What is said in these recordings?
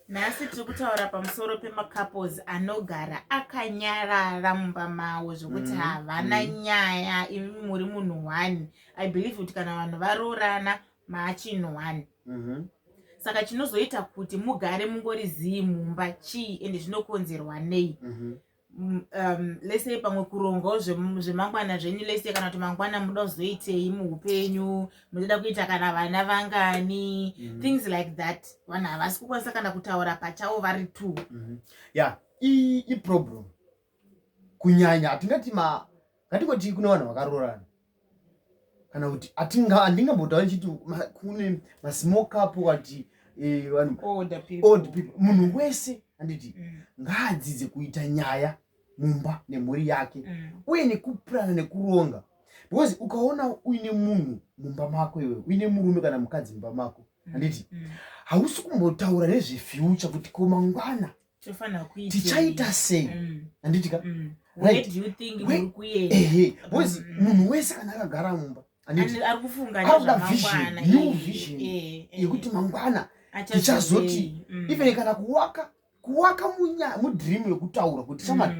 nhasi tiri kutaura pamusoro pemacouples anogara akanyarara mumba mavo zvekuti mm-hmm. havana mm. nyaya imi muri munhu one i believe kuti kana vanhu varoorana maachinhu one mm-hmm. saka chinozoita kuti mugare mungori zii mumba chii ende zvinokonzerwa nei mm-hmm. mm, um, lese pamwe kurongawo zvemangwana zvenyu lese kana kuti mangwana muda kuzoitei muupenyu munoda kuita kana vana vangani mm -hmm. things like that vanhu havasi kukwanisa kana kutaura pachavo vari two mm -hmm. ya yeah. iproblem kunyanya hatingati ma ngatikoti kune vanhu vakaroorana kana kuti handingambotaura ndichiti kune masmokapo wati eh, vanhu old people munhu wese handiti mm. ngaadzidze kuita nyaya mumba nemhuri yake mm. uye nekupurana nekuronga because ukaona uine munhu mumba mako iwe uine murume kana mukadzi mumba mako mm. handiti hausi kumbotaura nezvefuture kuti komangwana tichaita sei mm. handitika mm. ehe bcause mm. munhu wese kana akagara mumba arikuda vision new vision eh, eh. yekuti mangwana tichazoti even kana kuwaka kuwaka mudream yekutaura kuti shamari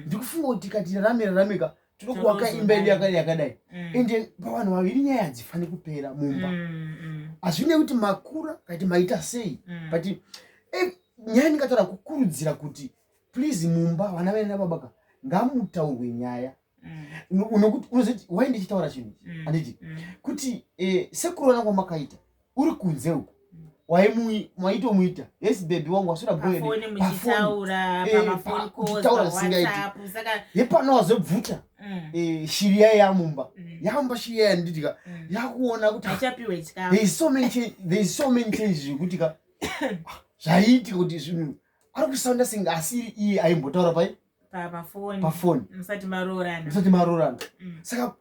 ndikufunga kuti tikati rarame rarameka tinokuwaka imba yedu yakadai yakadai mm. ende pavanhu vaviri nyaya hadzifani kupera mumba mm, mm. hazvine kuti makura kati maita sei but eh, nyaya ndingataura kukurudzira kuti please mumba vana vaina babaka ngamutaurwe nyaya unokuti unozoti wai ndichitaura chinhu handiti kuti eh, sekurona kwamakaita uri kunze uko waitomuita yes bebi wangu wasuda boyetaura eh, zisingaiti yepano wazobvuta mm. eh, shiri yaye yamumba mm. yamumba shiri yaye ndidika mm. yakuona kuti so many changes zvekuti ka zvaiitika kuti zvinhu ari kusaunda senge asiri iye aimbotaura pai pafoni musati maroorana saka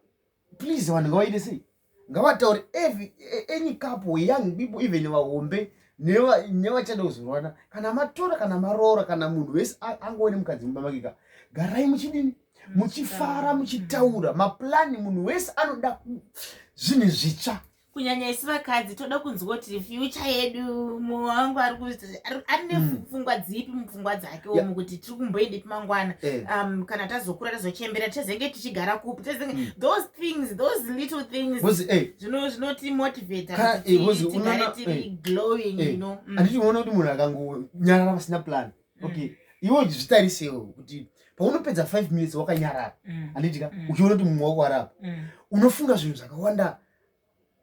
please vanhu ngawaite sei ngavataure every any couple young people even vahombe nevachada kuzorwana kana matora kana maroora kana munhu wese angove nemukadzi mumba makeka garai muchidini muchifara muchitaura maplani munhu wese anoda zvinhu zvitsva kunyanya isi vakadzi toda kunzwa kuti fyucha yedu mumwe wangu ari kuti ari nepfungwa mm. dzipi mupfungwa dzake omu kuti tiri kumboendepi mangwana eh. um, kana tazokura tazochembera tezenge tichigara kupi tezenge mm. those things those little things because eh zvino zvinoti motivate eh because unaona eh glowing eh, you know mm. anditi unaona kuti munhu akangonyarara pasina plan mm. okay iwe zvitarisewo kuti paunopedza 5 minutes wakanyarara mm. anditika uchiona kuti mumwe wako arapa unofunga zvinhu zvakawanda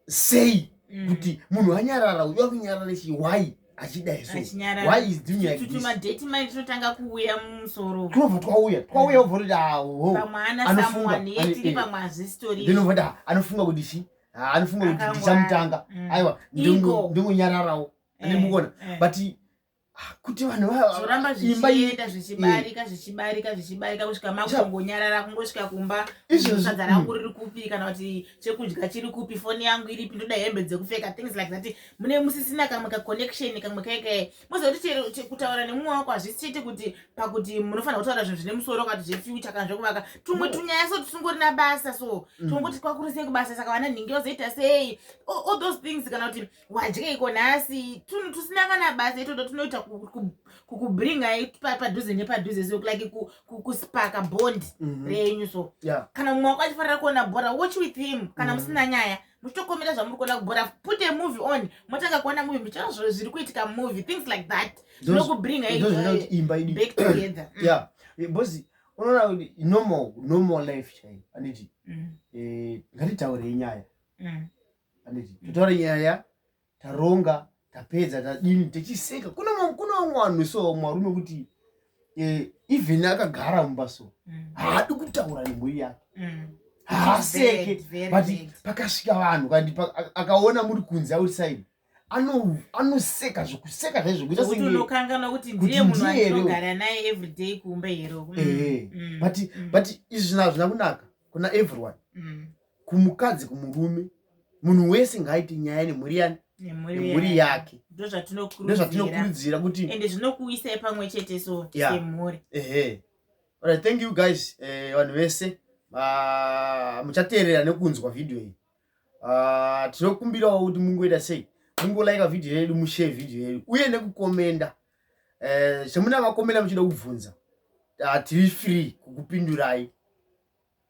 sei mm. kuti munhu anyarara uyu akunyarara chii why achidai so why is doing like this tumadate mai tinotanga kuuya musoro tinobva twauya twauya obva kuti awo pamwe ana someone yetiri pamwe hazvisitori ndinobva kuti anofunga kuti chi anofunga kuti ndichamutanga aiwa ndingonyararawo ane mukona but kuti vanhu vazoramba zvichienda zvichibarika zvichibarika zvichibarika kusvika makungonyarara kungosvika kumba izvozvadza rangu riri kupi kana kuti chekudya chiri kupi foni yangu iripi ndoda hembe dzekupfeka things like that mune musisina kamwe kaconnection kamwe kaike mozoti kutaura nemumwe wako hazvisi chete kuti pakuti munofanira kutaura zvinhu zvine musoro kati zvefuture kana zvekuvaka tumwe mm. tunyaya so tusingorina basa so mm. tumwe kuti kwakurisei kubasa saka vana nhingi vazoita sei all those things kana kuti wadyeiko nhasi tunhu tusina kana basa itoto tunoita kukubringai padhuze nepadhuze so like kuspaka bond mhm. renyu so kana mumwe wako achifanira kuona bhora watch with him kana mhm. musina nyaya muchitokomera zvamuri kuona kubhora put a movie on motanga kuona movie muchiona zviro zviri kuitika movie things like that zvinokubringai back together mm. yeah because unoona kuti normal normal life chaiyo anditi mm. eh, ngatitaurei nyaya mm. handiti totaura nyaya taronga tapedza tadini tichiseka kune vamwe vanhu so vamwe varume kuti eh, even akagara mumba so mm. haadi kutaura nemhuri yake mm. haaseke but pakasvika vanhu kandi akaona muri kunze outside anoseka zvekuseka zvaizvokutaunokanganwa kuti ndiye munhu anogara naye everyday kumba here mm. but izvi zvina zvina kunaka kuna everyone kumukadzi kumurume munhu wese ngaaite nyaya nemhuri yani nemhuri yake ndozvatinokurudzira kuti ende zvinokuisai pamwe chete so semhuri ehe alright thank you guys eh, vanhu vese ah, muchateerera nekunzwa vhidhiyo iyi ah, tinokumbirawo kuti mungoita sei mungolaika vhidhiyo yedu mushee vhidhiyo yedu uye nekukomenda eh, zvemunavakomenda muchida kubvunza ah, tiri free kukupindurai